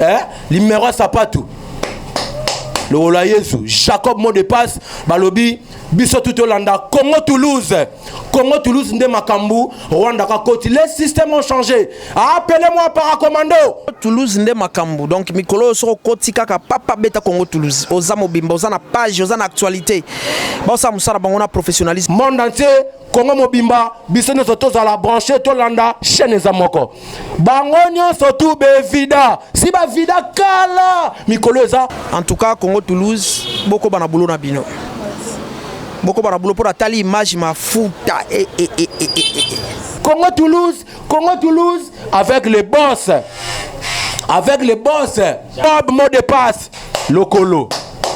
eh? limero ya sapatu lokola yesu jacob mot de passe balobi biso tu tolanda congo toulouse congo toulouse nde makambo rwanda kakoti les systèmes ont changé appele moi paracommando toulouse nde makambo donc mikolo oyo soki okoti kaka papa beta congo toulouse oza mobimba oza na page oza na actualité baosala mosala bango na professionnalisme monde entier Congo mobimba biso nyonso tozala branche tolanda chaîne eza moko bango nyonso tu bevida si bavida kala mikolo eza en tout cas Congo Toulouse bokoba na boulot na bino bokoba na boulot mpo natali image mafuta e, e, e, e, e, e. Congo Toulouse Congo Toulouse avec les boss avec les boss Bob mot de passe lokolo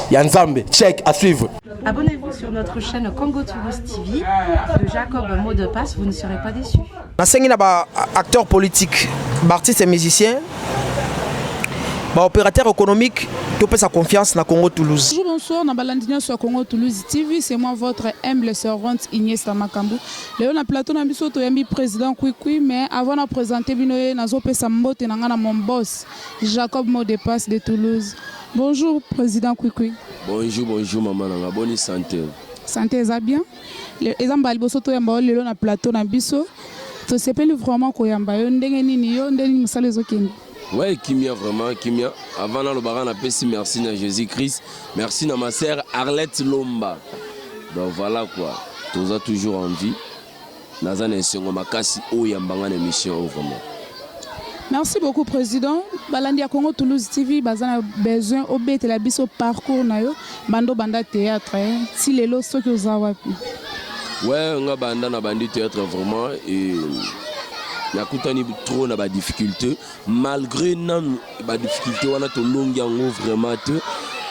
ya nzambe check à suivre Abonnez-vous sur notre chaîne Congo Tourist TV de Jacob Mot de Passe, vous ne serez pas déçus. nasengi na baacteur politique baartiste ya musicien baopérateur économique topesa confiance na congo toulouse Bonjour, bonsoir, na balandi nyonso ya Congo Toulouse TV, c'est moi votre humble servante Iniesta Makambo. Leo na plateau na biso toyambi président Kwikwi, mais avant na présenter bino ye nazopesa mbote na nga na mon boss Jacob Modepas de Toulouse. Bonjour president kwikwi. Bonjour bonjour maman na nga boni sante. Sante eza bien. Eza mbala liboso toyamba yo lelo na plateau na biso. Tosepeli vraiment koyamba yo ndenge nini yo ndenge nini mosala ezokende. Ouais, Kimia, vraiment, Kimia. Avant la Lobarana, Pessi, merci à Jésus-Christ. Merci à ma sœur Arlette Lomba. Donc voilà quoi. Tous toujours en vie. Naza na esengo makasi oyamba nga na emission oyo vraiment. Merci beaucoup président. Balandi ya Congo Toulouse TV baza na besoin obetela biso parcours na yo bando banda théâtre hein. ti lelo soki oza wapi. Ouais nga banda na bandi théâtre vraiment et nakutani trop na ba difficulté malgré nanu ba difficulté wana tolongi yango vraiment te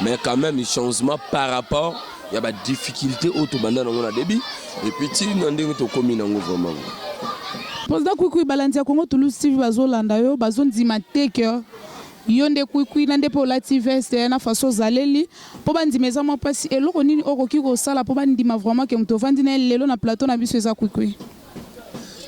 mais quand même changement par rapport ya ba difficultés oyo tobanda nango na début et puis ti na ndenge tokomi nango vraiment. Président Kwikwi, balandi ya Congo Toulouse TV bazolanda yo, bazondima te que yo nde Kwikwi na nde mpe olati veste na façon ozaleli mpo bandima eza mwa mpasi. Eloko nini okoki kosala mpo bandima vraiment que moto ovandi na ye lelo na plateau na biso eza Kwikwi?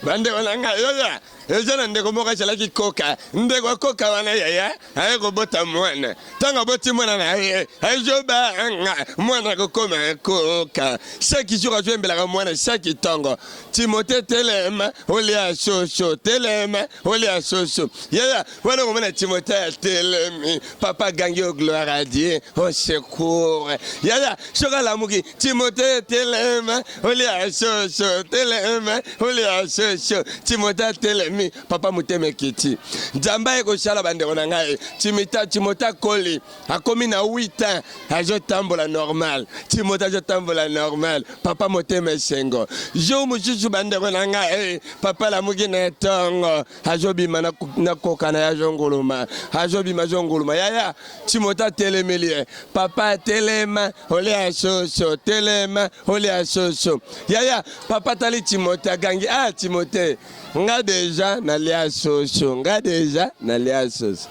Bandeko na ngai, yo ya eza na ndeko moko azalaki koka ndeko koka wana yaya aye kobota mwana ntango aboti mwana na ye azobanga mwana kokoma koka saki jour azoyembelaka mwana saki ntongo timote telema olia soso telema olia soso yaya wana okomona timote atelemi papa agangi yo gloire a dieu au secours yaya soki alamuki timote telema olia soso telema olia soso timote atelemi papa motema ekiti nzambe aye kosala bandeko na ngai timita timote akoli akomi na 8 ans azotambola normal timote azotambola normal papa motema esengo jour mosusu bandeko na ngai papa alamuki na etongo azobima na, na kokana ya zonguluma azobima zonguluma yaya timota telemeli ye papa telema olia soso telema olia soso yaya papa tali timote agangi ah timote nga deja nalia soso nga deja nalia soso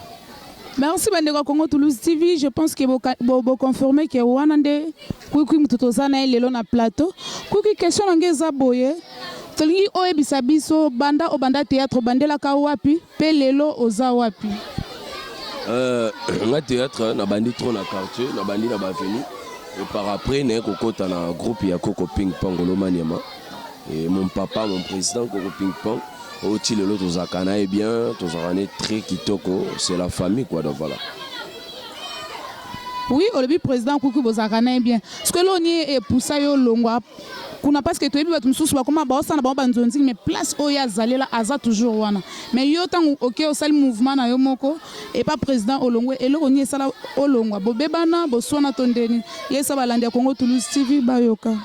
Merci bandeko ya Congo Toulouse TV, je pense que bo confirmer que wana nde kwikwi mutu toza na ye lelo na plateau. Kwikwi question na ngai eza boye, tolingi oyebisa biso banda obanda théâtre obandelaka wapi mpe lelo oza wapi? Euh, nga théâtre nabandi trop na quartier, nabandi na baveni et par après naye kokota na groupe ya Coco Ping Pong Lomaniema. Et mon papa, mon président Koko Ping Pong, au Tilolo Tozakana, eh bien, Tozakana est très kitoko, c'est la famille quoi, donc voilà. Oui, olobi président Koko Bozakana, eh bien, ce que l'on y est, et pour ça, yo, longwa, kuna parce que toyebi bato mosusu bakoma baosala bango banzonzing mais place oyo azalela aza toujours wana mais yo ntango oke osali mouvement na yo moko Epa president olongwe eloko nini esala olongwa bobebana boswana to ndeni yesa balandi ya Congo Toulouse TV bayoka.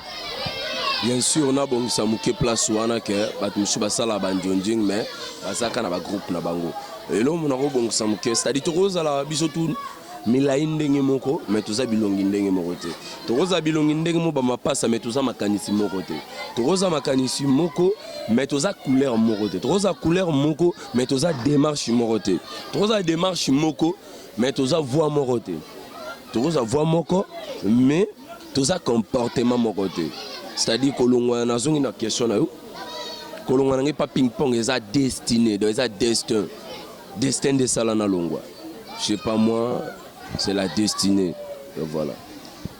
Bien sûr na bongisa muke place wana ke bato mosusu basala ba ndjondjing mais bazaka na ba groupe na bango eloko mona ko bongisa muke c'est à dire tokozala biso tout milai ndenge moko me toza bilongi ndenge moko te tokozala bilongi ndenge moko bamapasa me toza makanisi moko te tokozala makanisi moko me toza couleur moko te tokozala couleur moko mais toza demarche moko te tokozala demarche moko mais toza voix moko te tokozwa voix moko mais toza comportement moko te c'est-à-dire kolongwana nazongi na question na yo kolongwana ngai pa ping pong eza destiné donc eza destin destin nde esala na longwa je sais pas moi c'est la destinée donc voilà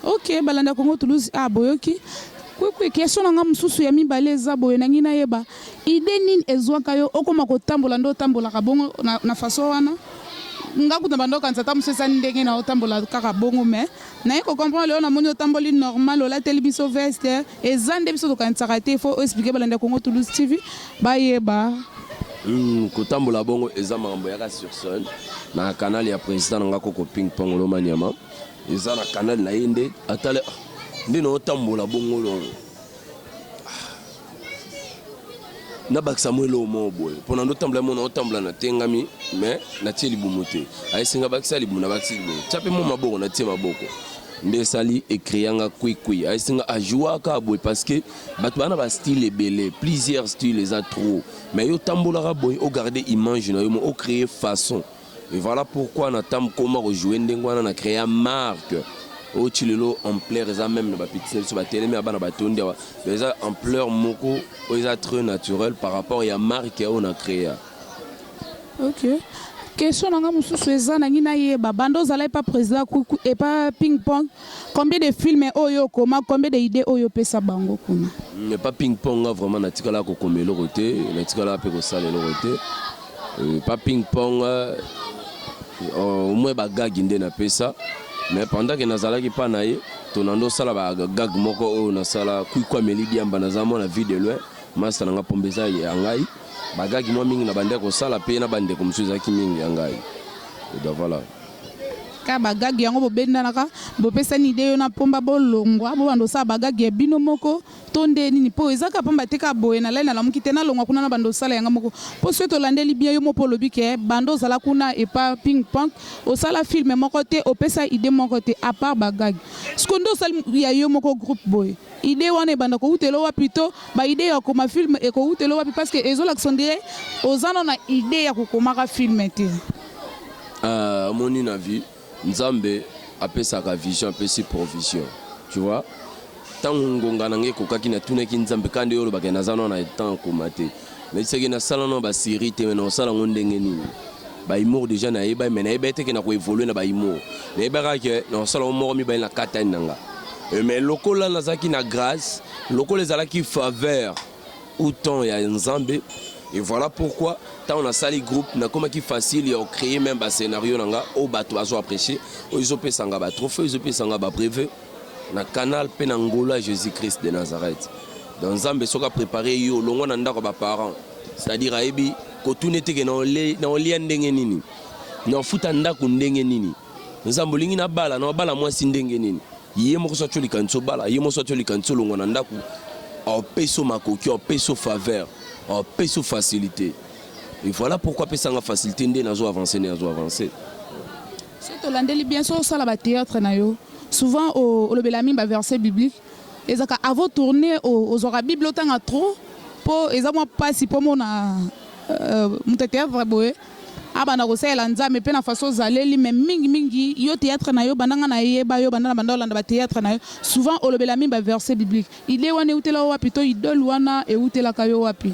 ok balanda kongo toulouse ah boyoki kwekwe question na ngai mosusu ya mibale eza boye nangi nayeba Idee nini ezuaka yo okoma kotambola nde otambolaka bongo na façon wana? Nga kutu na banda kokanisa ata mosusu eza ndenge na otambola kaka bongo mais naye ko comprendre lelo namoni otamboli normal olateli biso veste eza nde biso tokanisaka te faut expliquer balanda Congo Toulouse TV bayeba Hmm, kotambola bongo eza makambo yaka sur scène na canal ya président na nga koko ping pong loma nyama eza na canal na ye nde atala nde na otambola bongo longo nabakisa mwa eloko moko boye mpo na ndotambola mona otambola natengami me natie libumu te ayesinga bakisa libumu nabakisi libumu tia mpe mwa maboko natie maboko nde esali ecrea nga kwikwi ayesinga ajouaka boye parceke bato bana ba style ebele plusieurs style eza trop me yo otambolaka boye ogarde image na yo mo ocree façon Et voilà pourquoi na tam koma ko jouer ndenge wana na créer marque oyo ti lelo ampleur eza meme na bapetite na biso batelemi abana batondi awa eza ampleur moko oyo eza très naturel par rapport ya marque oyo na créa ok question na nga mosusu eza nangi nayeba banda ozalaki pa président kuku epa ping pong combien de filme oyo okoma combien de idée oyo opesa bango kuna epa ping pong nga vraiment natikala kokoma eloko te natikala mpe kosala eloko te Euh, pa ping pong euh, au moins bagagi nde napesa mais pendant ke nazalaki mpa na ye tonando osala bagag moko oyo nasala kwikwa meli diamba naza mwana vie de loin masta na nga pomba eza ya ngai bagagi mwa mingi na bandaki kosala mpe na bandeko mosusu ezalaki mingi ya ngai donc voilà kaka bagage yango bobendanaka bopesani ide yo na mpomba bolongwa bobanda osala bagage ya bino moko To nde nini po eza kaka pamba te kaka boye nalali nalamuki te nalongwa kuna na banda osala yanga moko po soki tolandeli bien yo moko pe olobi ke banda ozala kuna epa ping pong osala film moko te opesa idee moko te a part ba gag sikoyo nde osali ya yo moko groupe boye idee wana ebanda kowutela yo wapi to ba idee ya kokoma film ekowutela yo wapi parce que ezolakisa on dirait oza nano na idee ya kokomaka film te Euh, omoni na vie Nzambe apesaka vision apesi provision tu vois tangu ngonga nanga ekokaki natunaki nzambe kande yo olobaka naza nao na temps ya koma te naisaki nasala nao ba série te me naosala yango ndenge nini bahumour deja nayebaki me nayebaki te ke nako évolue na bahumour nayebaka ke naosala yango moko mibale na katani nanga me lokola nazalaki na grâce lokola ezalaki faveur ou temps ya nzambe et voilà pourquoi ntango nasali groupe nakomaki facile ya ocreye meme bascenario na nga oyo bato bazo apprécie oyo ezopesa nga batrophée ezopesa nga babreve na canal mpe na ngolo ya jésus christ de nazareth donc nzambe soki aprépare yo olongwa na ndako ya baparent c'est-à-dire ayebi kotuna eteke na olia ndenge nini na ofuta ndako ndenge nini Nzambe olingi na bala na bala mwasi ndenge nini ye moko so tiolika nso bala ye moso tiolika nso longwa na ndako apeso makoki apeso faveur apeso facilité et voilà pourquoi apesanga facilité nde nazo avancer nde nazo avancer so tolandeli bien so osala ba théâtre na yo souvent olobela mingi ba verset biblique ezaka avant tourner ozwaka bible otanga trop mpo eza mwa mpasi mpo mona euh, moto ya théâtre boye Abanda kosalela nzambe pe na façon ozaleli mais mingi mingi yo theatre nayo banda nga na yeba yo banda na banda olanda ba theatre nayo souvent olobela mingi ba verset biblique idee wana ewutela yo wapi to idole wana ewutelaka yo wapi?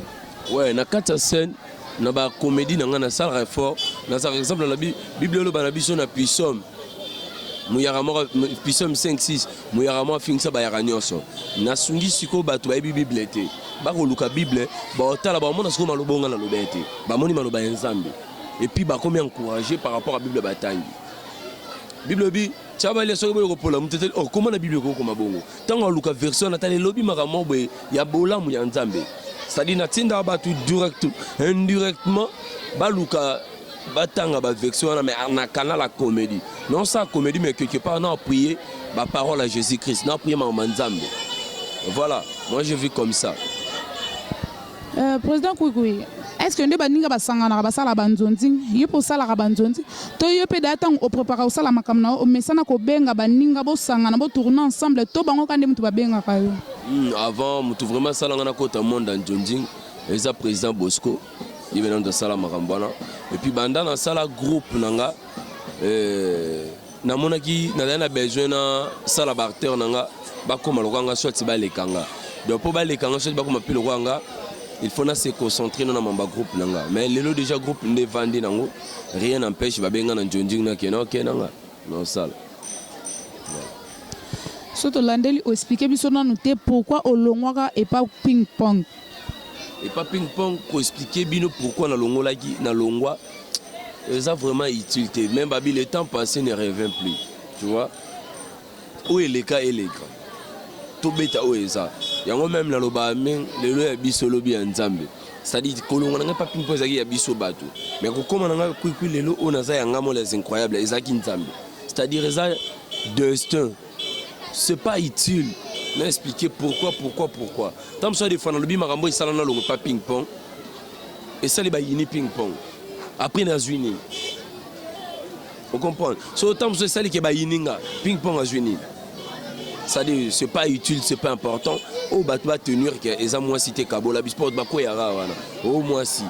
Ouais na kati ya scène na ba comedie na nga na salaka effort na zaka exemple na bi bible eloba na biso na puissome muyaka moko puissome 5 6 Muyaka mwa fingisa bayaka nionso. Nasungi sikoyo batu bayebi Bible te. Bakoluka Bible, baotala, baomona sikoyo maloba oyo ngai naloba ya te. Bamoni maloba ya Nzambe. Et puis bakomi encourager par rapport ya Bible batangi. Bible elobi, tia balia soki boye kopola. Moto etali, oh, koma na Bible ekoki koma bongo. Tango aluka version wana, tala elobi makambo moko boye ya bolamu ya Nzambe. C'est-à-dire natindaka batu direct, indirectement baluka batanga ba vexo wana mais arnakana la comédie non ça comédie mais quelque part na prier ba parole à Jésus Christ na prier mama Nzambe voilà moi je vis comme ça euh, président Kouikoui est-ce que nde baninga basanganaka basala banzonzi ye mpe osalaka banzonzi to ye mpe daya ntango oprépara osala makambo na yo omesana kobenga baninga bosangana botourne ensemble to bango ka nde moto babengaka yo hmm, avant moto vraiment asalanga nakota monde ya nzonzi eza président bosco yebe nanu tosala makambo wana epuis banda nasala groupe na nga eh, namonaki nazali na besoin nasala baacteur na nga bakóma lokola nga soit baleka nga donc mpo baleka nga soit bakóma mpe lokola nga il faut na se concentrer no na mamba groupe na nga mais lelo déjà groupe nde evandi nango rien n'empêche babenga na njonjing na kena oke na nga naosala so tolandeli oexplike biso nanu te pourquoi olongwaka epa ping pong et pas ping pong ko expliquer bino pourquoi na longolaki na longwa eza vraiment utile te même babi le temps passé ne revient plus tu vois oyo eleka eleka tobeta oyo eza yango meme naloba ame lelo ya biso lobi ya nzambe c'est-à-dire kolonga na ngai papi mpo ezalaki ya biso bato mais kokóma na ngai kwikwi lelo oyo naza ya ngai moles incroyable ezalaki nzambe c'est-à-dire eza destin c'est pas utile na expliquer pourquoi pourquoi pourquoi ntango mosusu adefana alobi makambo esala na longo pa ping pong esali bayini ping pong après nazwi nini ocomprendre so ntango mosusu esali ke bayini nga ping pong azwi nini c'est-à-dire c'est pas utile c'est pas important oyo oh, bato batenir ke eza mwasi te kabola bisport bakweyaka wana o oh, mwasi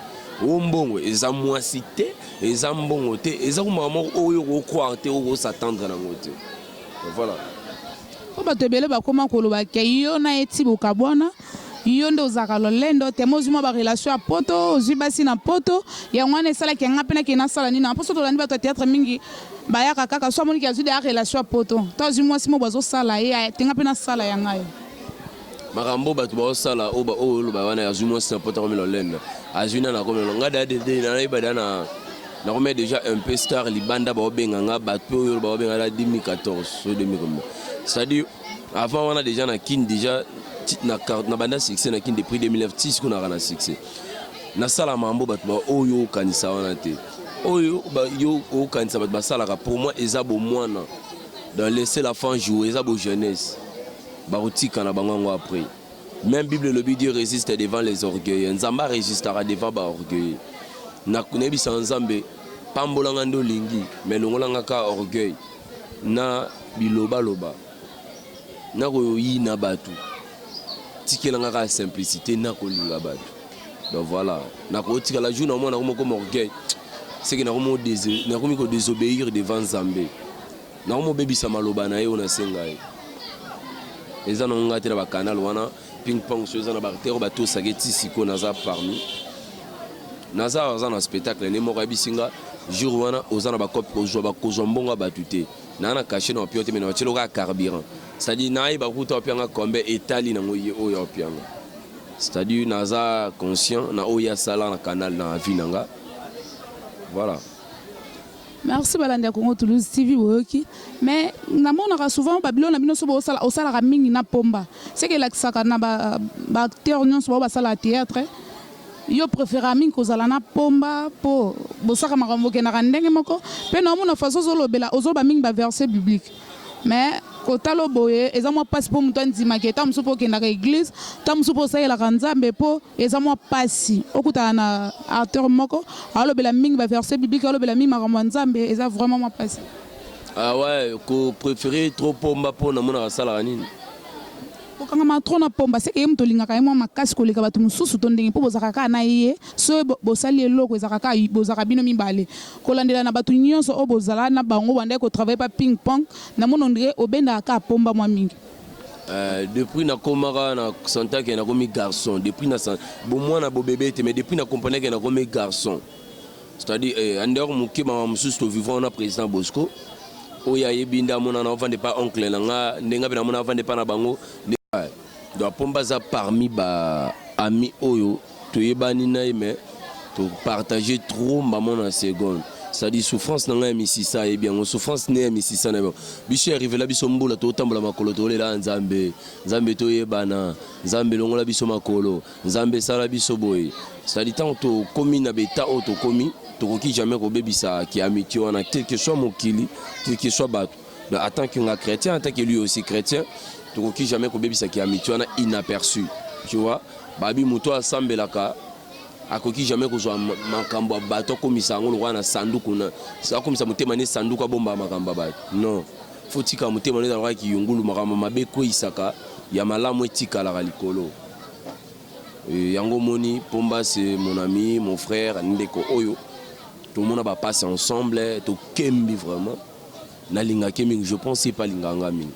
o oh, mbongo eza mwasi te eza mbongo te eza komaka moko oyo okokroire te oyo okosattendre nango te Voilà. Po bato ebele bakoma koloba ke yo na Eti bokabwana, yo nde ozalaka lolendo, tellement ozwi mwa ba relation ya poto, ozwi basi na poto, yango wana esalaki ke nga pe nake nasala nini awa, po soki tolandi bato ya theatre mingi bayaka kaka soki amoni ke azwi dejà relation ya poto, to azwi mwasi moko bazosala ye, te nga pe nasala ya ngai. makambo oyo bato baosala oyo oyo oloba wana azwi mwasi na poto akomela olene azwi nana akomela nga da dede nayeba da na nakomela déjà un peu star libanda baobenga nga bato mpe oyo oloba baobenga da 2014 so 2000 c'est-à-dire avant wana déjà na kin déjà na, na banda succès na kin depuis 2009 ti sikoyo naka na succès nasala mambo bato ba oyo okanisa wana te oyo yo okanisa bato basalaka pour moi eza bomwana dans laisser la fan joue eza bo jeunesse bako tika na bango yango après même bible elobi Dieu résiste devant les orgueilleux nzambe a résistaka devant ba orgueilleux na nayebisaka nzambe pambola nga nde olingi mais longola nga ka orgueil na bilobaloba na koyina bato tikela nga kaka simplicité na kolinga bato donc voilà nakotikala jour na mwana yango moko morgueil seke nakomi kodesobéir devant nzambe Nako mo bebisa maloba na ye oyo na senga ye. Eza na ngai te na ba canal wana ping pong so eza na ba acteurs ba tosaka ti siko naza parmi. Naza aza na spectacle ne moko ayebisi nga jour wana oza na ba cop ozwa ba kozwa mbongo ya batu te. Na na cache na opiote mais na batielo ka carburant. C'est-à-dire na ayeba kuta opianga kombe etali na ngo ye oyo opianga. C'est-à-dire naza conscient na oyo asala na canal na vie na nga. Voilà. Merci balandi ya Congo Toulouse TV boyoki mais namonaka souvent babilo na bino so bosala osalaka mingi na pomba seke elakisaka na baacteur nyonso bao basalaka théâtre yo préféraka mingi kozala na pomba mpo bosaka makambo bokendaka ndenge moko mpe naomona façon ozolobela ozoloba mingi baverse biblique Mais otalo boye eza mwa pasi po mutu andima ke ta musu po okendaka eglise ta musu po osalelaka nzambe po eza mwa pasi okutana na acteur moko alobela mingi ba verse biblique alobela mingi makambo ya nzambe eza vraiment mwa pasi. Ah ouais ko prefere trop pomba po namonaka asalaka nini. Kokangama trop na pomba seke ye moto olingaka ye mwa makasi koleka bato mosusu to ndenge mpo bozalaka kaka na ye soki bosali eloko ezalaka kaka bozalaka bino mibale kolandela na bato nyonso oyo bozala na bango obandaki ko travailler pa ping pong na moni on dirait obendaka kaka pomba mwa mingi. Euh, depuis na komaka na santa ke na komi garçon depuis na bomwana bobebe te mais depuis na comprendre ke na komi garçon C'est à dire eh, andeur moke mawa mosusu to vivant na président Bosco oyo ayebi nde amona na ovanda epa oncle na nga nde nga mpe namona avanda epa na bango donc apomba aza parmi ba ami oyo toyebani na ye mais topartage trop mbamo na seconde c'est-à-dire souffrance na ngai ya misisa ayebi yango souffrance ne ya misisa na bango biso ya rivela biso mbula totambola makolo tolela nzambe nzambe toyebana nzambe longola biso makolo Nzambe sala biso boye c'est-à-dire ntango tokomi na beta oyo tokomi tokoki jamais kobebisa ki amitié wana quel que soit mokili quel que soit bato donc en tant que nga chrétien en tant que lui aussi chrétien tokoki jamais kobebisa ki amitié wana inaperçu tu vois babi moto asambelaka akoki jamais kozwa makambo ya bato akomisa yango lokola na sanduku na akomisa motema ne sanduku abomba makambo ya bato non fotika motema ne ezalaka kiyungulu makambo mabe ekweisaka ya malamu etikalaka likolo Eh, yango omoni pomba se mon ami mon frère ndeko oyo tomona bapasi ensemble tokembi vraiment nalingaki mingi je pense epa alingaka nga mingi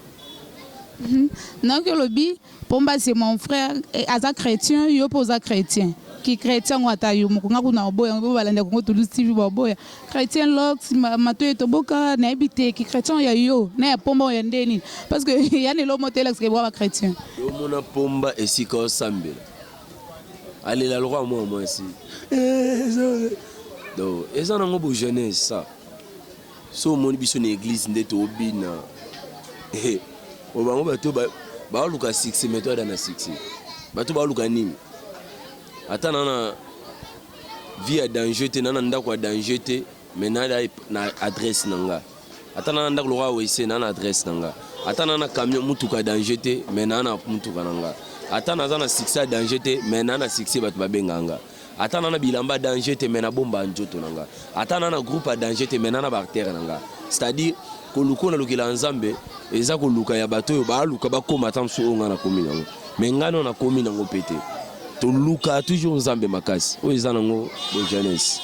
mhm. nayoki olobi pomba se mon frère eh, aza chrétien yo mpe oza chrétien ki chrétien yango ata yo moko nga kuna oboya yango mpe balanda kongo toulouse tv baoboya chretien lox matoyi etoboka nayebi te ki chretien ya yo na ya pomba oyo ya nde nini parce que ya lelo moto elakisaka ebwa ba chretien omona pomba esika osambela alela lokola mwana mwasi eh, donc eza nango bo jeunesse sa so omoni biso na eglise nde tobina eh, o bango bato baoluka succès me to ada na succès bato baoluka nini ata nana vie ya danger te na na ndako ya danger te mais na na adresse na nga ata na na ndako lokola wese na na adresse na nga ata na na camion mutuka ya danger te mais na na mutuka na nga ata naza na succès ya danger te mais na na succès bato babenga nga ata na na bilamba ya danger te mais na bomba nzoto na nga ata na na groupe ya danger te mais na na bartere na nga c'est-à-dire koluka oyo nalukela ya nzambe eza koluka ya bato oyo baluka bakóma ata mosu oyo ngai nakomi nango mais ngai no nakomi nango mpe te toluka toujours nzambe makasi oyo eza nango bo jeunesse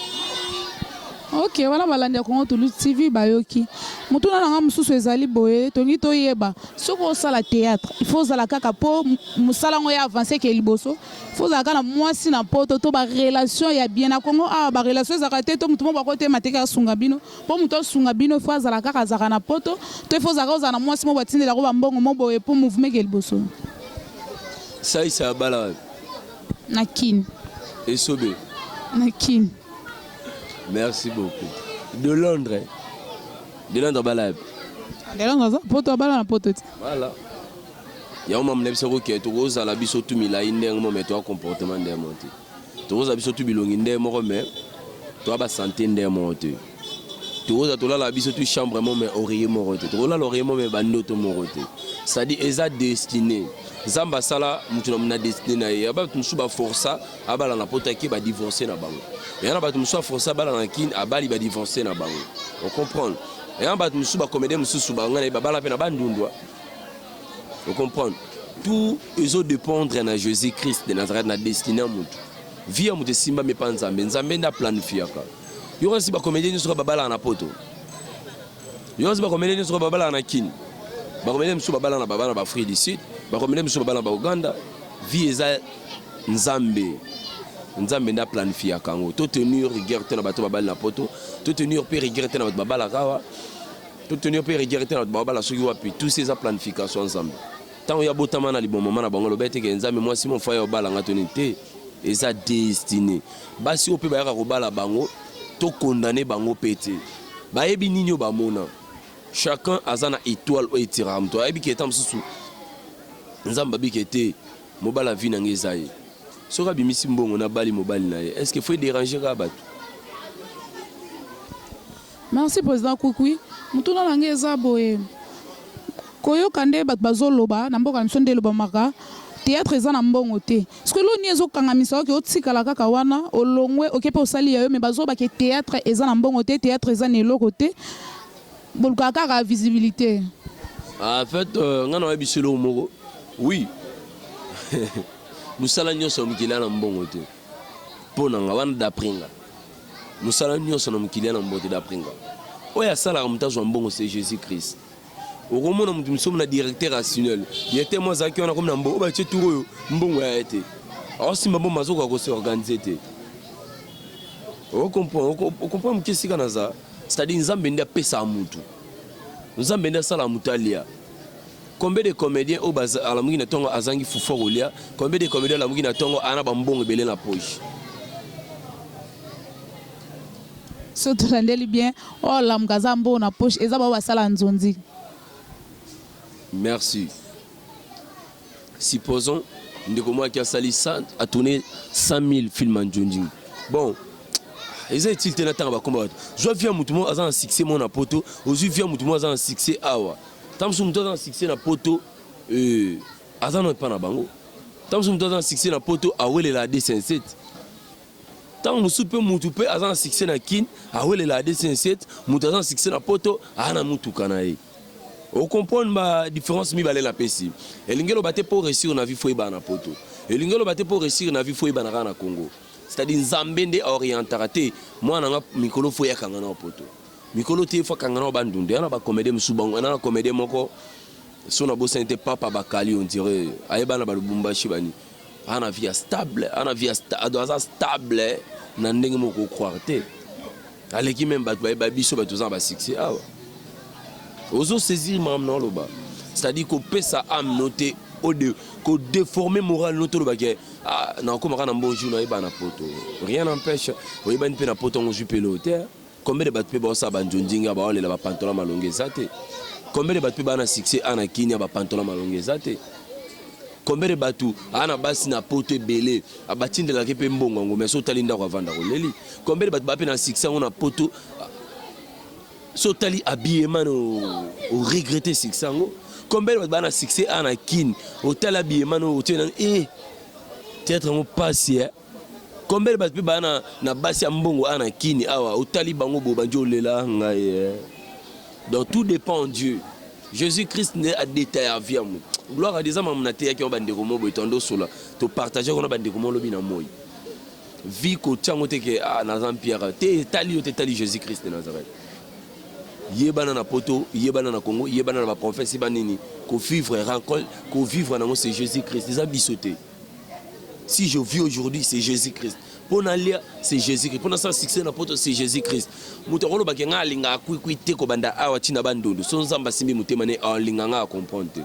ok wana balandi ya congo tulu tv bayoki motuna na ngai mosusu ezali boye tolingi toyeba soki osala théâtre il faut ozala kaka mpo mosala yango ya avance ke liboso faut ozala kaka na mwasi na poto to barelation ya bien na congo awa ah, barelation ezalaka te to motu moko bakoki tema teke asunga bino mpo motu asunga bino faut azala kaka azalaka na poto to il faut ozalaka ozala na mwasi moko batindela yango bambongo mo boye mpo mouvement ke liboso Saïsa abala wapi? Na Kin. Esobe. Na Kin. Merci beaucoup. De Londres. De Londres abala wapi? De Londres aza poto abala na poto ti. Voilà. yango mama na biso koke tokozala biso tu milai ndenge moko me toya comportement ndenge moko te tokozala biso tu bilongi ndenge moko me toya basante ndenge moko te tokoza tolala biso tu chambre mo mais oreiller moko te tokolala oreiller mo mais bandoto moko te c'est-à-dire eza destiné nzambe asala moto na destiné na ye ya bato mosusu baforsa abala na pota kie badivorce na bango eya na bato mosusu aforsa abala na kine abali badivorce na bango ocomprendre eya na bato mosusu bakomede mosusu bango na ye babala mpe na bandundwa ocomprendre tout ezo dépendre na jésus christ de nazareth na destiné ya moto vie ya moto esimbami epa nzambe nzambe nde aplanifiaka Yo kasi ba comédien nyoso babalaka na poto. Yo kasi ba comédien nyoso babalaka na Kin. Ba comédien misu babalaka na babana ba Afrique du Sud, ba comédien misu babalaka ba Ouganda. Vie eza Nzambe. Nzambe nda planifier kango. To tenir rigueur te na bato babali na poto, to tenir pe rigueur te na bato babalaka awa. To tenir pe rigueur te na bato babala soki wapi. Tout ça eza planification Nzambe. Tango ya botama na libo mama na bango aloba ete ke Nzambe mwasi mo faya obala nga to nini te eza destine basi oyo pe bayaka kobala bango to condamner bango pe te bayebi nini oyo bamona chacun aza na etoile oyo etiraka moto ayebi ke eta mosusu Nzambe abike te mobala vie na nga eza ye soki abimisi mbongo nabali mobali na ye est ce que fo ederange kaka bato Merci president kwikwi motuna na ngai eza boye koyoka nde bato bazoloba na mboka na biso nde elobamaka théâtre eza na mbongo te ce que loni ezokangamisa oke otikala kaka wana olongwe oke mpe osali ya yo me bazoloba ke théâtre eza na mbongo te théâtre eza na eloko te bolukaka kaka visibilité en fait euh, ngai nayebisi eloko moko oui mosala nyonso ya mokili ya na mbongo te Pona nga wana d'après nga musala nionso na mokili ya na mbote d'après nga oyo asalaka moto azwa mbongo c'est Jesus Christ okomona moto mosusu na directeur ya sinel directeur mo azalaki wana komi na mbo oyo batie tour oyo mbongo ya ye te aosimba mbongo azokoka kose organise te okomprendre moke esika naza c'est-à-dire nzambe nde apesaka motu nzambe nde asalaka moto alia Combien de comediens oyo balamuki na tongo azangi fufu kolia? Combien de comediens alamuki na tongo ana ba mbongo ebele na poche? So tolandeli bien, oyo alamuka aza mbongo na poche eza ba oyo basala nzonzi. Merci. Supposons ndeko mwaki asali a tourner 100.000 films en junjing. Bon, eza utile te natanga bakoma bato zwa vie ya motu moko aza na succès moko na poto ozwi vie ya motu moko aza na succès awa ntango mosusu motu aza na succès na poto euh, aza no epa na bango ntango mosusu motu aza na succès na poto awelela 207 Tango mosusu pe mutu pe aza na succès na kin awelela adc insiete mutu aza na succès na poto aya na mutuka na ye o comprendre ba difference mibale na pesi elingi eloba te po reussir na vie fo yebana na poto elingi eloba te po reussir na vie fo yebana kaka na Congo c'est à dire nzambe nde a orientaka te mwana nga mikolo fo yaka nga na poto mikolo te fo kanga na ba ndunde yana ba comédie musu bango na comédie moko so na bosani te papa bakali on dirait ayebana ba lubumbashi bani ana vie ya stable ana vie aza stable na ndenge moko croire te aleki meme bato bayeba biso bato oza na basuccès awa ozo saisir makambo na oloba c'est-à-dire kopesa ame no te kodeforme moral no toloba ke ah, nakomaka na mbonjour nayeba na poto rien n'empêche oyebani mpe na poto yango ozwi mpe leo te Combien de batu pe baosala ba njunjingi awa baolela ba pantalon malongi eza te? Combien de batu pe baa na succès awa na kin ya ba pantalon malongi eza te? Combien de batu aa na basi na poto ebele batindelaka ye pe mbongo yango mais so otali ndako avandaka oleli? Combien de batu baa pe na succès yango na poto so otali habillement no o regretter succès yango? Combien de batu baa na succès awa na kin otali habillement no otie nanu eeh theatre yango pasi eh. Combien batu pe bana na basi ya mbongo a na kini awa otali bango bo bandi olela ngai eh. Donc tout dépend en Dieu. Jésus Christ nde a deta ya vie ya moto. Gloire à Dieu eza mamu na te yaki ba ndeko mo boye tondo sola to partager kuna ba ndeko mo lobi na moyi. Vie ko tiango te ke ah na zan pierre te tali yo te tali Jésus Christ de Nazareth. Yebana na poto, yebana na Congo, yebana na ba prophètes, yebana nini. Ko vivre rancole, ko vivre na ngo c'est Jésus Christ. Eza biso te. Si je vis aujourd'hui c'est Jesus Christ. Mpo nalia c'est Jesus Christ. Mpo nasala succès na poto c'est Jesus Christ. Moto akoloba ke ngai alingaka kwikwi te kobanda awa ti na bandundu. So Nzambe asimbi motema ne alinga ngai akomprendre te.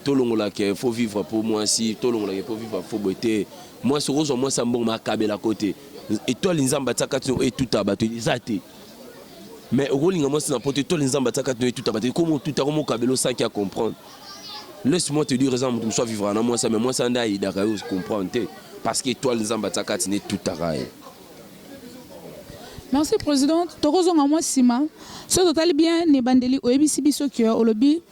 Tolongola ke faut vivre mpo mwasi, tolongola ke faut vivre mpo boye te. Mwasi okozwa mwasi ya mbongo makabela ko te. Etoile Nzambe atia kati no etuta bato eza te. Mais okolinga mwasi na poto etoile Nzambe atia kati no etuta bato. Komo tuta komo kabelo sans kia comprendre. Laisse moi te dire eza mutu mususu vivre na mwasi mais mwasi ande ayidaka yo comprendre te parce que étoile nzambe atia kati ne tutaka ye merci président tokozonga mwa nsima soki totali bien na ebandeli oyebisi biso ke olobi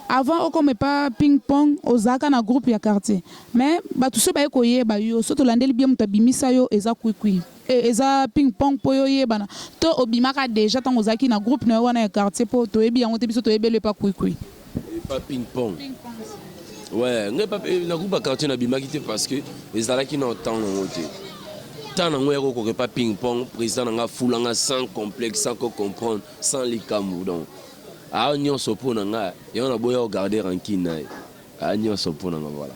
avant okoma epa ping pong ozalaka na groupe ya quartier mais bato so baye koyeba yo so tolandeli bien moto abimisa yo eza kwikwi E, eza ping pong po yo yebana to obimaka deja tango ozalaki na groupe na yo wana ya quartier po toyebi yango te biso toyebi elo epa kwikwi. Epa ping pong. Ping pong. Ouais, ngai papa eh, na groupe ya quartier nabimaki te parce que ezalaki na temps nango te temps nango ya kokoka epa ping pong président na ngai afulanga sans complexe sans kocomprendre sans likambo donc aa ah, nyonso mpo na ngai yango naboya kogarde rankine na ye aa ah, nyonso mpo na ngai voilà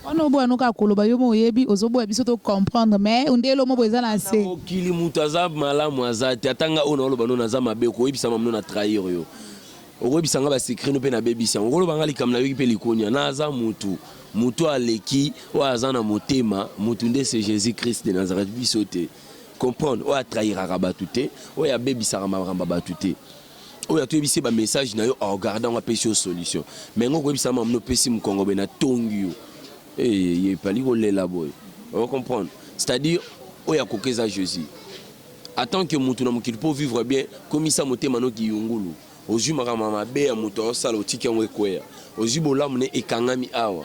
Wana oboya no kaka koloba yo moko oyebi ozo boya biso to comprendre mais ondele omo boye eza na se. Na mokili mutu aza malamu aza te ata nga oyo na oloba no naza mabe okoyebisa nga mno na trahir yo okoyebisa nga ba secret no pe na bebisi yango okoloba nga likambo na yoki pe likunia naza mutu mutu aleki oyo aza na motema mutu nde se Jesus Christ de Nazareth biso te comprendre oyo a trahiraka batu te oyo abebisaka makambo ya batu te. oyo atu yebisi ba message na yo en regardant nga pesi yo solution mais ngo ko yebisa maman no pesi mukongo be na tongi yo eh ye pali ko lela boy on comprendre c'est-à-dire oyo akokeza Jésus en tant que mutu na mokili pour vivre bien komisa motema no kiyungulu ozwi makambo mabe ya moto aosala otiki yango ekweya ozwi bolamu ne ekangami awa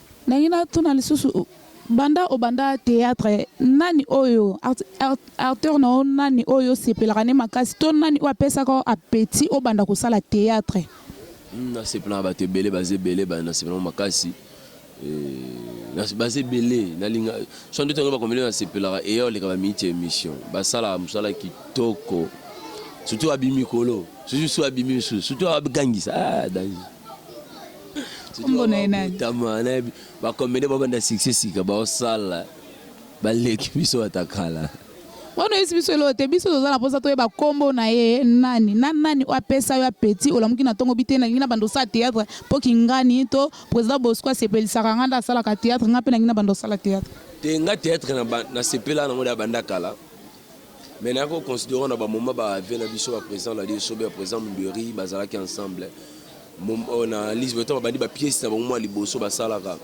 Nalingi natuna lisusu banda obanda théâtre nani oyo acteur na yo nani oyo osepelaka ne makasi to nani oyo apesaka yo appétit obanda kosala théâtre hmm, nasepelaka bato ebele baza ebele nasepelaka makasi eh, baza ebele nalinga so nde tongo bakomeli nasepelaka eya oleka baminiti ya émission basalaka mosala kitoko surtout abimi kolo surtout abimi misusu surtout abgangisa ah, Kombo na ye nani? Tama na ye ba comedien ba banda succès sika ba osala ba leki biso ata kala. Wana oyebisi biso eloko te, biso toza na posa toyeba kombo na ye nani na nani oyo apesa yo apeti olamuki na tongo bi te nalingi na banda osala theatre po kingani to president Bosco asepelisaka nga nde asalaka theatre nga pe nalingi na banda osala theatre. Te nga theatre na sepela na ngo deja banda kala. Mais na ko considère na ba moment ba vie na biso ba président la lieu sobe ba président Mbiri bazalaki ensemble. Mom oh, na analyse ba bandi ba pièces na bango mwa liboso basalaka.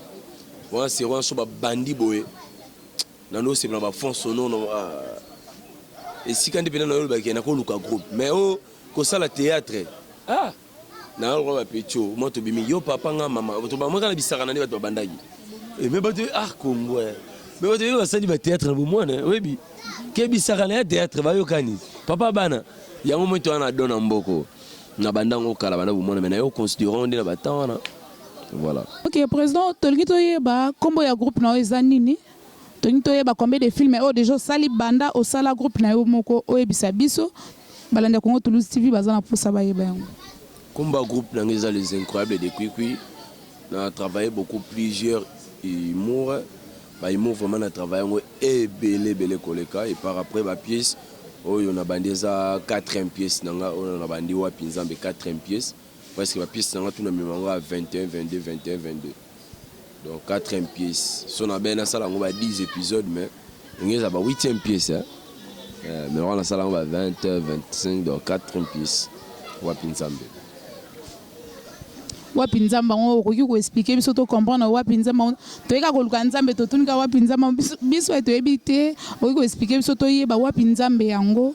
Wana sero wana so ba bandi boye. Na no sepela ba fonds sonore no ah. Esika nde pena na yo lobaki na ko luka groupe. Mais oh kosala théâtre. Ah. Na lokola ba pecho mwa tobimi yo papa nga mama to ba mwaka na bisaka na nde bato babandaki eh, mais bato ah Congo eh. mais bato yo basali ba théâtre na bomwana eh, oyebi ke bisaka na ya théâtre bayokani papa bana yango moto wana dona mboko na bandango kala banda bomwana mais na yo considérant nde na ba temps wana voilà. Ok président tolingi toyeba kombo ya groupe na yo eza nini? Tolingi toyeba combien de films oyo deja osali banda osala groupe na yo moko oyebisa biso balandi ya Congo Toulouse TV baza na posa bayeba yango. Kombo ya groupe na nga eza les incroyables de Kwikwi na travaille beaucoup plusieurs humours ba humours vraiment na travaille yango ebele ebele koleka et par après ba pièces oyo na bandi eza 4 pièces na nga oyo na bandi wapi nzambe 4 pièces Presque ba pièces na nga tout na mema ngo à 21 22 21 22. Donc 4e pièce. So na ben na sala ngo ba 10 épisodes mais ngeza ba 8e pièce hein. Euh, mais wana sala ngo ba 20 25 donc 4e pièce. Wapi Nzambe. wapi nzambe yango okoki koexplike biso to comprendre wapi nzambe yango toyeka koluka nzambe totunika wapi nzambe yango biso toyebi te okoki koexplike biso toyeba wapi nzambe yango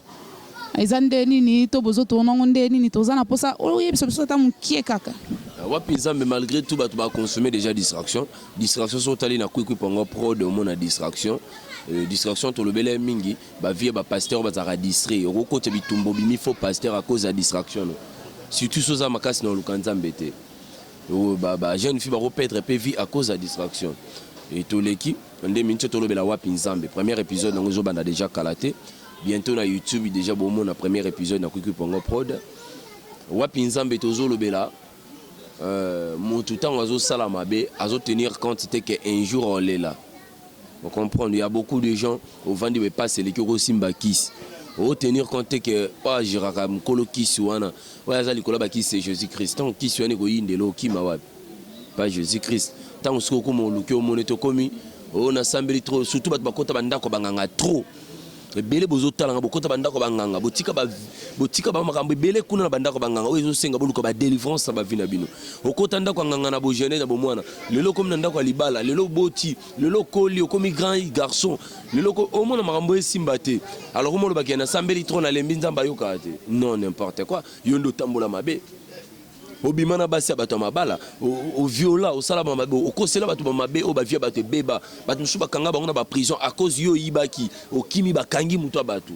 Eza nde nini to bozo tourna ngo nde nini toza na posa oyebisa biso ata mukie kaka. Ah, wapi eza mais malgré tout bato ba consommer déjà distraction distraction so otali na kwikwi pongo prod omona distraction euh, distraction tolobela mingi bavie bapasteur bazalaka distrait okokota bitumba obimi faux pasteur à cause ya distraction no surtout so oza makasi na oluka nzambe te oh, bajeune fille bakoperdre mpe vie à cause ya distraction etoleki nde minti tolobela wapi nzambe premier épisode yango ezobanda déjà kala te Bientot na YouTube dejà bo mona premier episode na Kwikwi Pongo Prod. Wapi Nzambe tozo lobela euh, mutu tango azo sala mabe azo tenir compte te que un jour on lela. On comprendre, il y a beaucoup de gens au vandi be passe les koko simba kiss. O tenir compte te que oa jiraka mukolo kiss wana, oya za likola ba kiss c'est Jésus-Christ. Tango kiss wana ko yindelo kima wapi? Ppa Jesus Christ tango sikoyo okoma oluki omoni te okomi oh na sambeli trop surtout bato bakota ba ndako ba nganga trop ebele bozo tala nga bokota ba ndako ba nganga botika ba botika ba makambo ebele kuna na ba ndako ba nganga oyo ezo senga boluka ba delivrance na ba vie na bino okota ndako nganga na bo jeune na bomwana lelo okomi na ndako ya libala lelo boti lelo koli okomi grand garçon lelo ko omona makambo esimba te alors omo lobaki na sambeli trop na lembi nzamba yoka te non n'importe quoi yondo tambola mabe obima na basi ya bato ya mabala oviola osala bamabe okosela bato bamabe oyo bavia bato ebeba bato mosusu bakanga bango na baprison a cause yo oyibaki okimi bakangi moto ya bato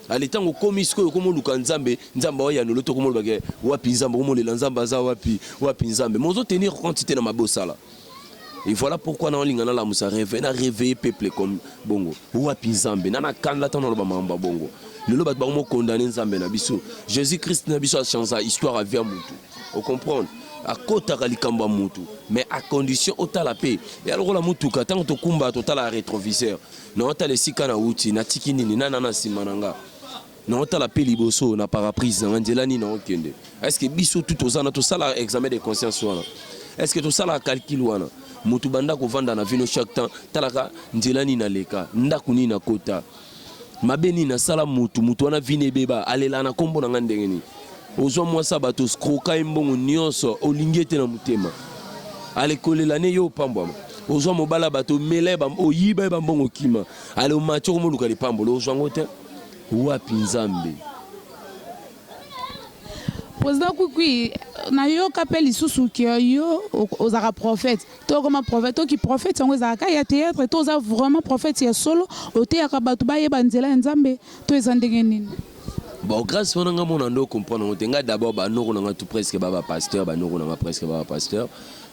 ale ntango okomi sikoyo okomoluka nzambe nzambe aoyanola to okomolobake wapi nzambe okomolela nzambe aza wapi wapi nzambe mais ozotenir compte te na mabe osala Et voilà pourquoi na linga na lamusa reve na réveiller peuple comme bongo wapi nzambe na na kanda tano loba mamba bongo lelo bato bango condamner nzambe na biso Jésus Christ na biso a change histoire à via mutu au comprendre akotaka likambo ya mutu mais à condition otala pe ya lokola mutuka ntango tokumba totala ya rétroviseur na otala esika na wuti natiki nini nana na nsima na nga Nao tala pe liboso na paraprise na nga nzela nini nao kende. Est ce que biso tout toza na tosala examen de conscience wana? Est ce que tosala calcul wana? Mutu banda kovanda na vino chaque temps talaka nzela nini na leka, ndaku nini na kota, mabe nini na sala mutu, mutu wana vino ebeba alela na kombo na nga ndenge nini? Ozwa mwasi ya bato oscroka ye mbongo nionso olingi ye te na motema. Alekolela ne yo opambwama. Ozwa mobala bato omela ye ba oyiba ye ba mbongo okima. Ale omatch okomoluka lipamboli ozwa ngo te. Wapi nzambe? President Kwikwi, nayoka mpe lisusu que yo ozalaka prophète to okoma prophète to ki prophète yango ezalaka ya théâtre to oza vraiment prophète ya solo oteyaka bato bayeba nzela ya Nzambe to eza ndenge nini? Bon, grâce wana nga mona ndo comprendre ngo te nga d'abord ba noko na nga tout presque ba ba pasteur ba noko na nga presque ba ba pasteur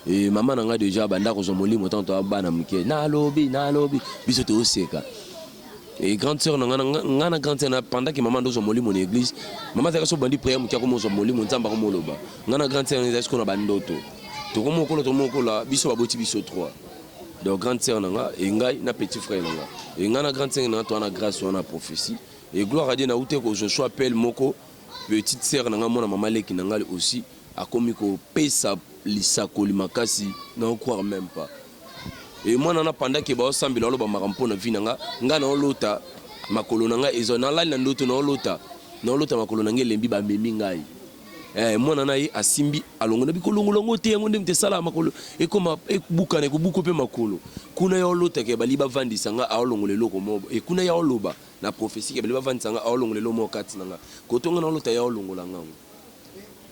et maman na nga déjà banda kozwa molimo tanto abana moke nalobi nalobi biso toseka Et grande sœur na nga nga na grande sœur na pendant que maman ndozo molimo na église maman zaka so bandi prière mutia ko mozo molimo nzamba ko moloba nga na grande sœur na zaka na ba ndoto to ko mokolo to mokola biso baboti biso trois donc grande sœur na nga et ngai na petit frère na nga et nga na grande sœur na toi na grâce wana prophétie et gloire à Dieu na ute ko zo soit appel moko petite sœur na nga mona maman leki na ngai aussi akomi ko pesa lisakoli makasi na croire même pas Et moi nana pendant que bao sambela oloba makambo mpo na vie na nga nga na olota makolo na nga ezo nalali na ndoto na olota na olota makolo na nga elembi bamemi ngai eh, mwana na ye asimbi alongo na bikolongola yango te yango nde moto esala makolo ekoma ebukana ekobuku mpe makolo kuna ya olotaka ya bali bavandisa nga aolongola eloko moko e kuna ya oloba na profesi ya bali bavandisa nga aolongola eloko moko kati na nga kotonga na olota ya olongola ngango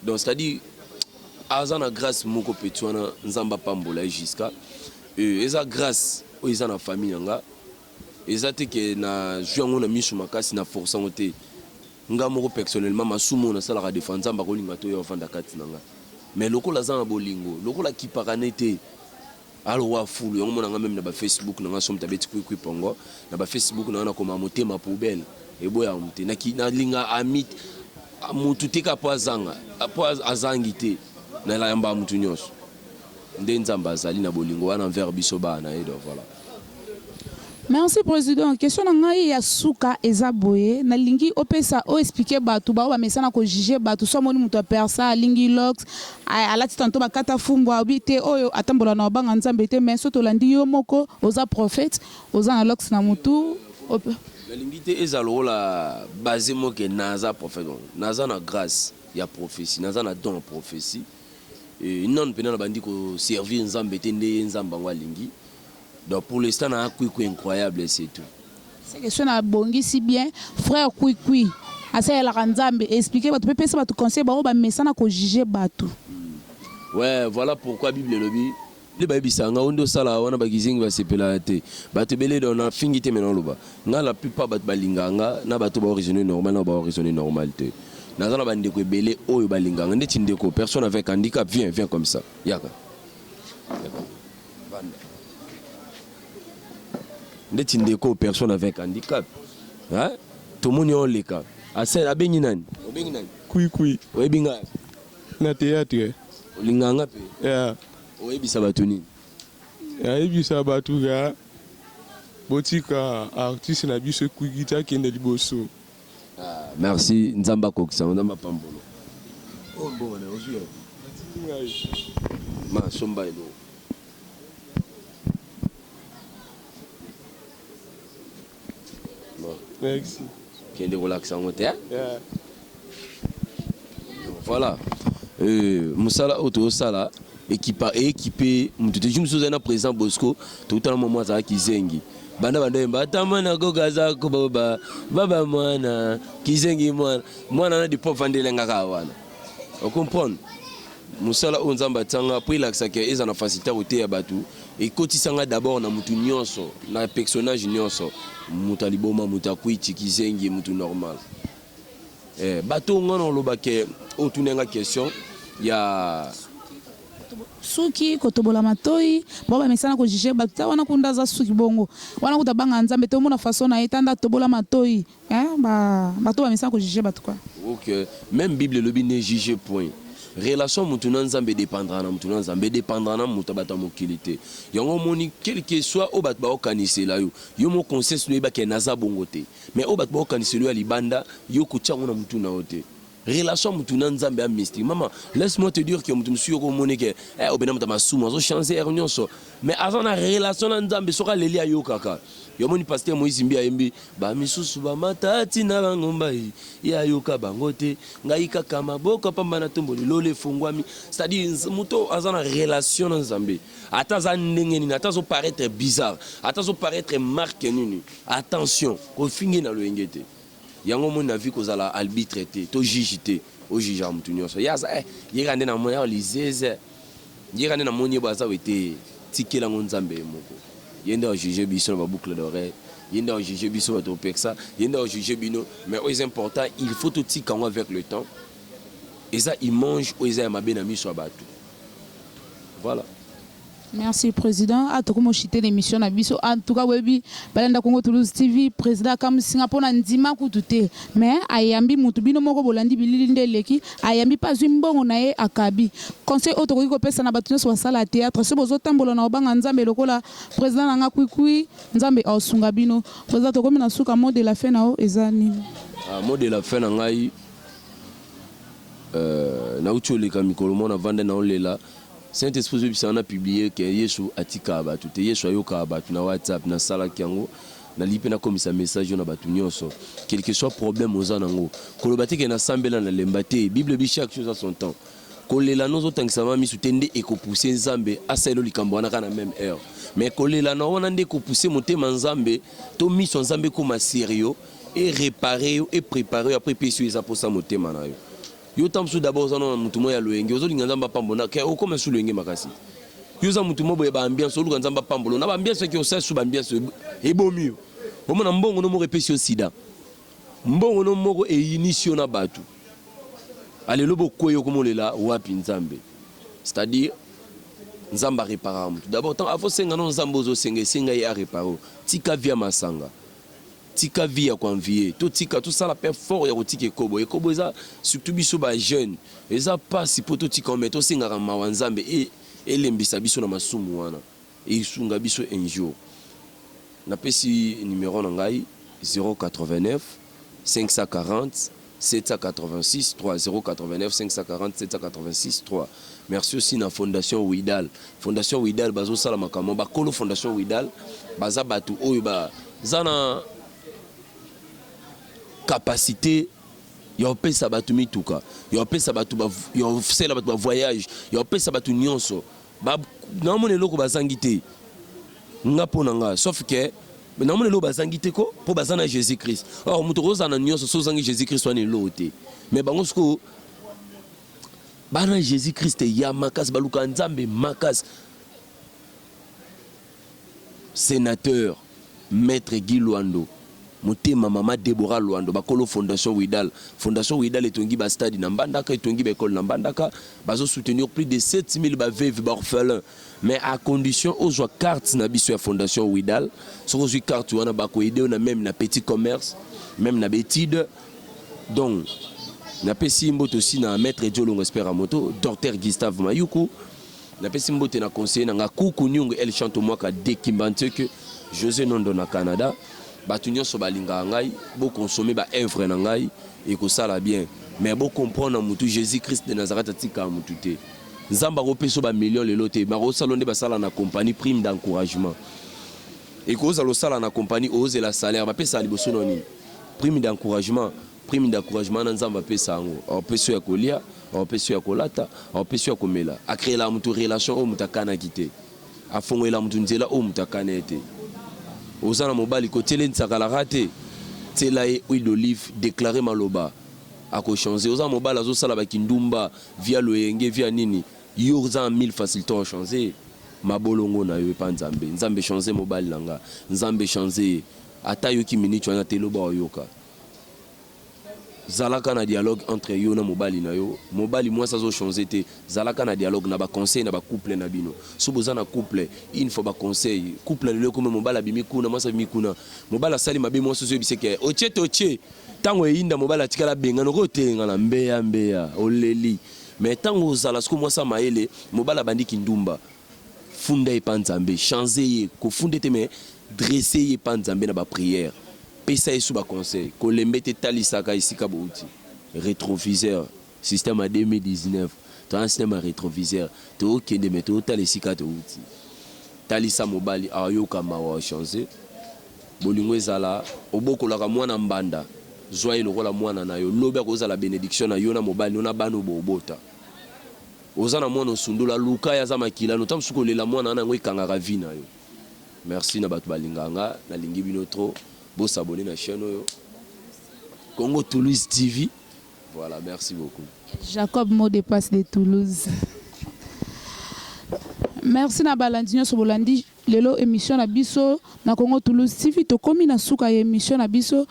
Donc c'est à dire aza na grace moko petit wana nzambe apambola ye jusqu'à euh, eza grace oyo eza na famille na nga eza te ke na zwi yango na miso makasi na force yango te nga moko personnellement masumu oyo nasalaka defa nzambe akolinga to yo avanda kati na nga mais lokola aza na bolingo lokola akipaka ne te Alo wa fulu yango mona nga meme na ba Facebook nanga somo tabeti kwi kwi pongo na ba Facebook nanga na koma motema poubelle eboya hum te na ki na linga amit mutu te ka po azanga po azangi te na la yamba mutu nionso nde nzambe azali na bolingo wana envers biso bana ye do voilà Merci president question na ngai ya suka eza boye na lingi opesa o expliquer batu ba ba mesana ko juger batu so moni mutu apersa alingi locks alati tanto ba kata fumbu abi te oyo atambola na obanga nzambe te mais so tolandi yo moko oza prophète oza na locks na mutu na lingi te eza lokola base moke na aza prophète donc naza na grâce ya prophetie naza na don prophetie nanu pena na bandi ko servir nzambe te nde ye nzambe yango alingi Donc pour l'instant na kwikwi incroyable c'est tout. C'est que soki na bongisi bien frère kwikwi asalelaka Nzambe expliquer bato pe pesa bato conseil bango ba mesana ko juger bato. Ouais voilà pourquoi bible elobi nde bayebisaka nga onde osala wana bakizengi basepelaka te bato ebele do na fingi te mena oloba nga la plupart bato balingaka nga na bato baoraisonne normal na baoraisonne normal te naza na bandeko ebele oyo balingaka ndeti ndeko personne avec handicap vient vient comme ça yaka, yaka. ndeti ndeko personne avec handicap hein tomoni yo leka asen abengi nani obengi nani kui kui oyebi nga na théâtre olinga nga pe yeah. oyebisa bato nini ayebisa bato ya botika artiste na biso kuikiti akende liboso Merci Nzambe akokisa ngo Nzambe apambolo. Oyo oh, mbongo na ozwi ya ma somba eloko Merci. kende kolakisa yango te voilà euh, mosala oyo tozosala ekipa ekipe mutu te jour mosusu ozali na président bosco tokutana mwa mwa azalaki kizengi banda banda oyemba ata mwana gogo aza koboba baba mwana kizengi mwana mwana wana depo avandelanga kaka wana ocomprendre mosala oyo nzambe atianga mpo elakisaka eza na facilité ya koteya bato ekotisanga d'abord na motu nyonso na personnage nyonso moto ya liboma moto ya kwiti kizengi motu normal Eh, bato oyo ngai na oloba ke otuna nga question ya suki kotobola matoi bo bamesana kojuge bato ta wana kunda aza suki bongo wana kuta banga nzambe te omona faso na ye tanda tobola matoi eh, bato bamesana kojuge bato kua ok même bible elobi ne juge point relation motu na nzambe edépendra na motu na nzambe edépendra na moto bato ya mokili te yango omoni quelque soit oyo bato baokanisela yo yo mo conscience noyebake naza bongo te Mais oyo batu bao kaniselo ya libanda yo okotia yango na mutu na yo te relation ya mutu na nzambe ya mystique maman laisse moi te dire que mutu mususu yo ko moni ke eh obenda mutu ya masumu azo change heure nionso mais aza na relation na nzambe soki aleli ayokaka yo moni pasteur Moïse Mbi ayembi ba misusu ba matati na ba ngomba ye ye ayoka bango te ngai kaka maboko pamba na tomboli lola efongwami c'est à dire mutu aza na relation na nzambe ata aza ndenge nini ata azo paraître bizarre ata azo paraître marque nini Attention ko finge na loyenge te yango omoni na vie kozala albitre te to juge te o jugea mutu nionso ye aza eh ye kaka nde na moni awa lizeze ye kaka nde na moni ye boye aza boye te tikela yango nzambe ye moko ye nde a juge biso na ba boucle d'oreille ye nde a juge biso bato opekisa ye nde a juge bino mais oyo eza important il faut totika yango avec le temps eza image oyo eza ya mabe na miso ya bato voilà Merci president ah tokomi oshite na emission na biso en tout cas boyebi balanda Congo Toulouse TV president akamwisi nga mpo na ndima kutu te mais ayambi motu bino moko bolandi bilili nde eleki ayambi mpe azwi mbongo na ye akabi conseil oyo tokoki kopesa na bato nyonso basala théâtre soki bozotambola na obanga nzambe lokola president na nga kwikwi nzambe aosunga bino president tokomi na suka mot de la fin na yo eza nini ah, mot de la fin na ngai euh, nauti oleka mikolo mwana vanda naolela Saint esprit zoyebisa nga na publie ke yesu atikaka batu te yesu ayokaka batu na whatsapp na salaki yango nalingi pe nakomisa message oyo na batu nionso quelque soit problème oza na ngo koloba te ke na sambela na lemba te bible ebi chaque chose a son temps kolela no ozo tangisa ma misu te nde eko pousser nzambe asala yo likambo wana ka na meme heure mais kolela na wana nde eko pousser motema nzambe to misu ya nzambe ekoma serieux et reparer yo et preparer yo après pesi yo eza posa motema na yo Yo tango mosusu d'abord oza nona mutu moko ya loyenge ozo linga Nzambe apambola na ke okoma lisusu loyenge makasi yo oza mutu moko boye ba ambiance oluka Nzambe apambola yo na ba ambiance ke osali lisusu ba ambiance ebomi yo omona mbongo no moko epesi yo sida mbongo no moko eyinisi yo na batu alelo bokwei okomolela wapi Nzambe c'est à dire Nzambe a reparaka mutu d'abord tango afosenga no Nzambe ozosenga esenga ye a reparo tika via masanga Tika vie ya ko envier. To tika to sala pe effort ya ko tika ekobo. Ekobo eza surtout biso ba jeunes eza pasi po to tika yango mais to sengaka mawa Nzambe e lembisa biso na masumu wana e sunga biso un jour. Na pesi numero na ngai 089 540 786 3 089 540 786 3 merci aussi na fondation widal fondation widal bazosala makambo bakolo fondation widal baza bato oyo baza na capacité ya kopesa bato mituka ya kopesa bato ya kosala bato ba voyage ya kopesa bato nyonso Ba na mona eloko bazangi te. Nga mpo na nga sauf que na mona eloko bazangi te ko mpo baza na Jésus Christ. Or moto kozala na nyonso so zangi Jésus Christ wana eloko te. Mais bango siko bana Jésus Christ ya makasi balukaka Nzambe makasi. Senateur maitre Guy Luando motema mama Deborah Luando bakolo fondation Widal fondation Widal etongi ba stade na Mbandaka etongi ba ecole na Mbandaka bazo soutenir plus de 7000 ba veuves ba orphelins mais à condition ozwa carte na biso ya fondation Widal soki ozwi carte wana bako aider yo na meme na petit commerce meme na ba etudes donc napesi mboto si na maitre Jolongo Espera Moto docteur Gustave Mayuku Napesi mbote na conseiller na nga Kuku Nyungu El Chanto Mwaka de Kimbantseke, Jose Nondo na Canada. Bato nyonso balingaka ngai, bo consommer ba œuvres na ngai ekosala bien. Mais bo comprendre mutu Jesus Christ de Nazareth atikaka mutu te. Nzambe akopesa yo ba millions lelo te, mais akosala yo nde basala na compagnie prime d'encouragement. Ekozala osala na compagnie ozela salaire, bapesaka liboso na yo nini? Prime d'encouragement. Prime d'encouragement wana Nzambe apesa yango, apesa yo ya kolia, apesa yo ya kolata, apesa yo ya komela, a creelaka mutu relation oyo mutu akanaki te, afongolela mutu nzela oyo mutu akana ye te. Oza na mobali kotiela ye nsakalaka te, tiela ye huile d'olive, declarer maloba ako changer. Oza na mobali azosala ba kindumba, vie ya loyenge, vie ya nini, yo oza na mille facilites o changer mabolongo na yo epa Nzambe. Nzambe changer mobali na nga, Nzambe changer ye, ata ayoki minute wana te loba oyoka. zalaka na dialogue entre yo na mobali na yo mobali mwasi azo changer te zalaka na dialogue na ba conseil na ba couple na bino so boza na couple une fois ba conseil couple lelo comme mobali abimi kuna mwasi abimi kuna mobali asali mabe mwasi ozo yebise ke otie totie tango eyinda mobali atikala benga noko oteyenga na mbeya mbeya oleli mais tango ozala siko mwasi amayele mobali abandi kindumba Funda epa nzambe chanze ye kofunde te mais dresse ye epa nzambe na ba prière pesa yesu ba conseil kolembe te talisaka esika bowuti retroviseur système ya 2019 toza na système ya retroviseur tozo kende mais tozo tala esika towuti talisa mobali awa yoka mawa chanze bolingo ezala obokolaka mwana mbanda zwa ye lokola mwana nayo lobi akozala benediction nayo na mobali no na bana oyo bokobota. Oza na mwana osundola luka ye aza makila no ta musu kolela mwana wana yango ekangaka vie na yo merci na batu balinga nga na lingi bino trop bo s'abonner na chaine oyo Congo Toulouse TV voilà merci beaucoup. Jacob mot de passe de Toulouse merci na balandi nionso bolandi. Lelo emission na biso na Congo Toulouse TV tokomi na suka ya emission na biso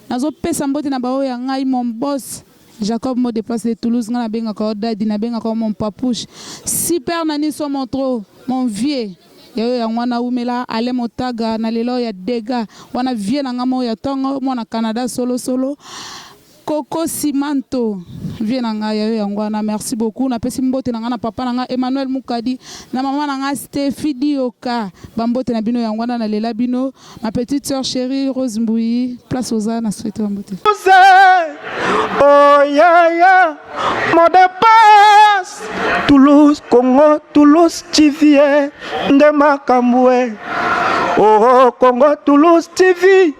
nazo pesa mbote na ba oyo ya ngai mon boss Jacob mot de passe de Toulouse nga na bengaka yo daddy na bengaka yo mon papouche super nani somo trop mon vieux ya yo yango wana wumela Alain Motaga na lelo ya degat wana vieux na nga moko ya tongo mwana Canada solo solo Coco Simanto vie na ngai ya yo yango wana merci beaucoup na pesi mbote na ngai na papa na ngai Emmanuel Mukadi na maman na ngai Stephie Dioka ba mbote na bino yango wana na lela bino ma petite sœur chérie Rose Mbuyi place oza na souhaite ba mbote oh yeah yeah mon dépasse Toulouse Congo Toulouse Chivie nde makambo oh Congo Toulouse TV